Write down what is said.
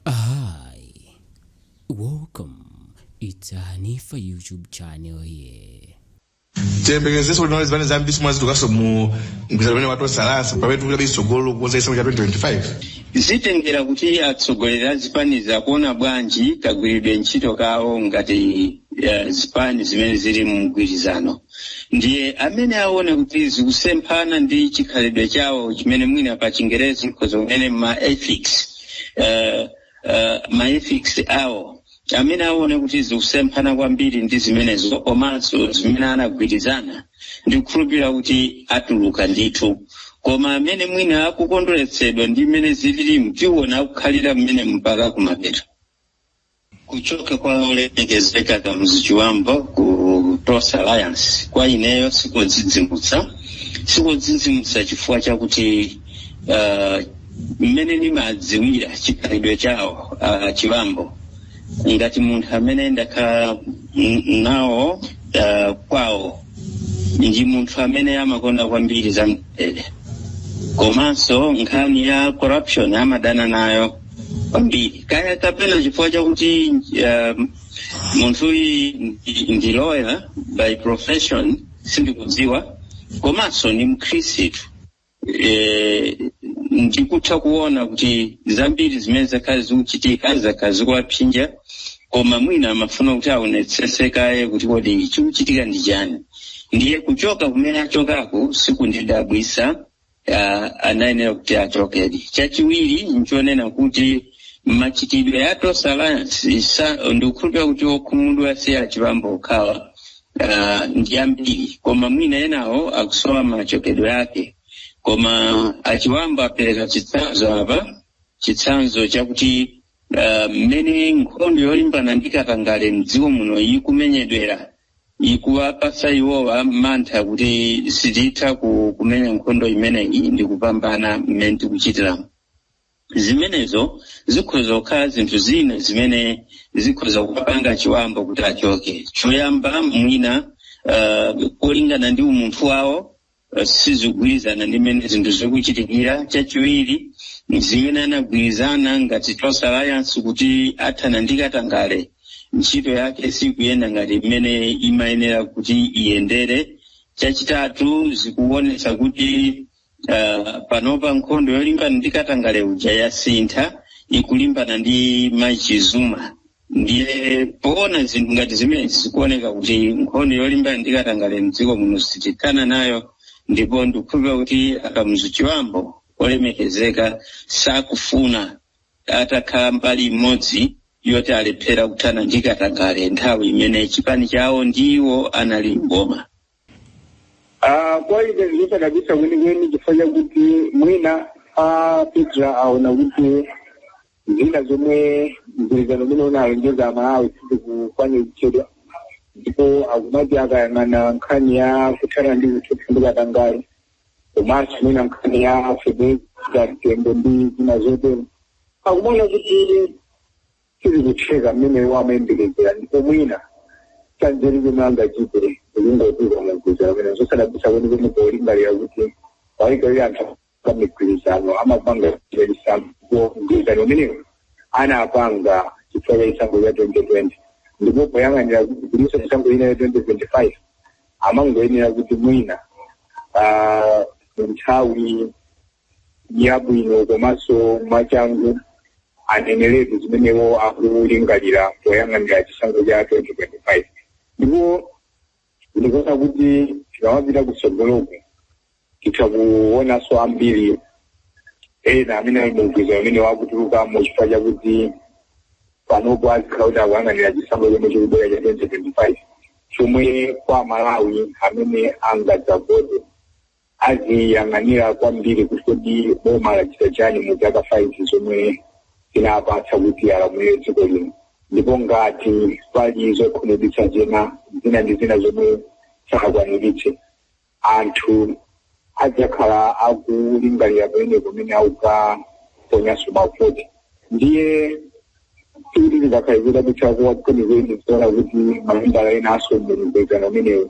Hi, welcome. It's a Hanifa YouTube channel here. tiyembekezenso kuti zipani zambiri zomwe zitulukanso mu mgwirizano umene wa Tonse Alliance pamene tikupita kutsogolo kukonza chisankho cha 2025 zitengera kuti atsogoleri a zipanizo akuona bwanji kagwiridwe ntchito kawo ngati eh, zipani zimene zili mu mgwirizano ndiye amene aone kuti zikusemphana ndi chikhalidwe chawo chimene mwina pa chingerezi nkhoza kunena ma ethics uh, uh, ma ethics awo amene aone kuti zikusemphana kwambiri ndi zimenezo komanso zimene anagwirizana ndikukhulupirira kuti atuluka ndithu koma amene mwina akukondweretsedwa ndi mmene zililimu tiona akukhalira m'menemo mpaka kumapeto kuchoka kwa olemekezeka Kamuzu Chibambo ku Tonse Alliance kwa ineyo sikodzidzimutsa sikodzidzimutsa chifukwa chakuti uh, mmene ndimadziwira chikhalidwe chawo a Chibambo ngati munthu amene ndakhala n- nawo uh, kwawo ndi munthu amene amakonda kwambiri za mtendere komanso nkhani ya corruption amadana nayo kwambiri kaya kapena chifukwa chakuti um, munthuyi ndi- ndi lawyer by profession sindikudziwa komanso ni mkhristu eh, ndikutha kuona kuti zambiri zimene zakhala zikuchitika zakhala zikuwapsyinja koma mwina amafuna kuti aonetsese kaye kuti kodi chikuchitika ndi chani ndiye kuchoka kumene achokako sikundidabwitsa ah, anayenera kuti achokedi chachiwiri nchonena kuti machitidwe a Tonse Alliance ndikukhulupira kuti okhumudwa si a Chibambo okhawa ah, ndi ambiri koma mwina enawo akusowa machokedwe ake koma a Chibambo apereka chitsanzo apa chitsanzo chakuti ah, mmene nkhondo yolimbana ndi katangale mdziko muno ikumenyedwera ikuwapatsa iwowa mantha kuti sititha ku- kumenya nkhondo imeneyi ndi kupambana mmene tikuchitiramu zimenezo zikhoza kukhala zinthu zina zimene zikhoza kupanga a Chibambo kuti achoke choyamba mwina uh, polingana ndi umunthu wawo sizigwirizana ndi mmene zinthu zikuchitikira chachiwiri zimene anagwirizana ngati Tonse Alliance kuti athana ndi katangale ntchito yake sikuyenda ngati mmene imayenera kuti iyendere chachitatu zikuonetsa kuti uh, panopa nkhondo yolimbana ndi katangale uja yasintha ikulimbana ndi Martha Chizuma ndiye poona zinthu ngati zimenezi zikuoneka kuti nkhondo yolimbana ndi katangale mdziko muno sitithana nayo ndipo ndikukhulupirira kuti a Kamuzu Chibambo olemekezeka sakufuna atakhala mbali imodzi yoti alephera kuthana ndi katangale nthawi imene chipani chawo ndi iwo anali mboma Ah, kwa ine sizodabwitsa kwenikweni chifukwa chakuti mwina a PETRA aona kuti zina zomwe mgwirizano umene unalonjeza aMalawi sizikukwaniritsidwa ndipo akumati akayang'ana nkhani ya kuthana ndi ziphuphu ndi katangale komanso mwina nkhani ya fedeza mtembo ndi zina zotero akumaona kuti sizikutheka mmene iwo amayembekezera ndipo mwina chanzeru chomwe angachite nkungotuluka mumgwirizano pamene zosadabwitsa kuti kuti polingalira kuti paika iye anthu pa migwirizano amapanga mgwirizano ndipo mgwirizano umenewo anapanga chifukwa cha chisankho cha 2020 ndipo poyang'anira kuti kulinso chisankho china cha 2025 amangoyenera kuti mwina ah, nthawi yabwino komanso mwachangu aneneretu zimene iwo akulingalira poyang'anira chisankho cha 2025 ndipo ndikuona kuti tikamapita kutsogoloku titha kuonanso ambiri ena amene ali mumgwirizano umenewu akutulukamo chifukwa chakuti panopo azikhala kuti akuyang'anira chisankho chomwe chikubwera cha 2025 chomwe kwa aMalawi amene angadzavote aziyang'anira kwambiri kuti kodi boma lachita chani mu zaka 5 zomwe linapatsidwa kuti alamulire dziko lino ndipo ngati pali zokhumudwitsa zina zina ndi zina zomwe sanakwaniritse anthu adzakhala akulingalira pamene pomwe akukaponyanso mavoti ndiye sikuti zingakhale zodabwitsa kuwa kwenikweni kuona kuti mamembala ena a mumgwirizano umenewu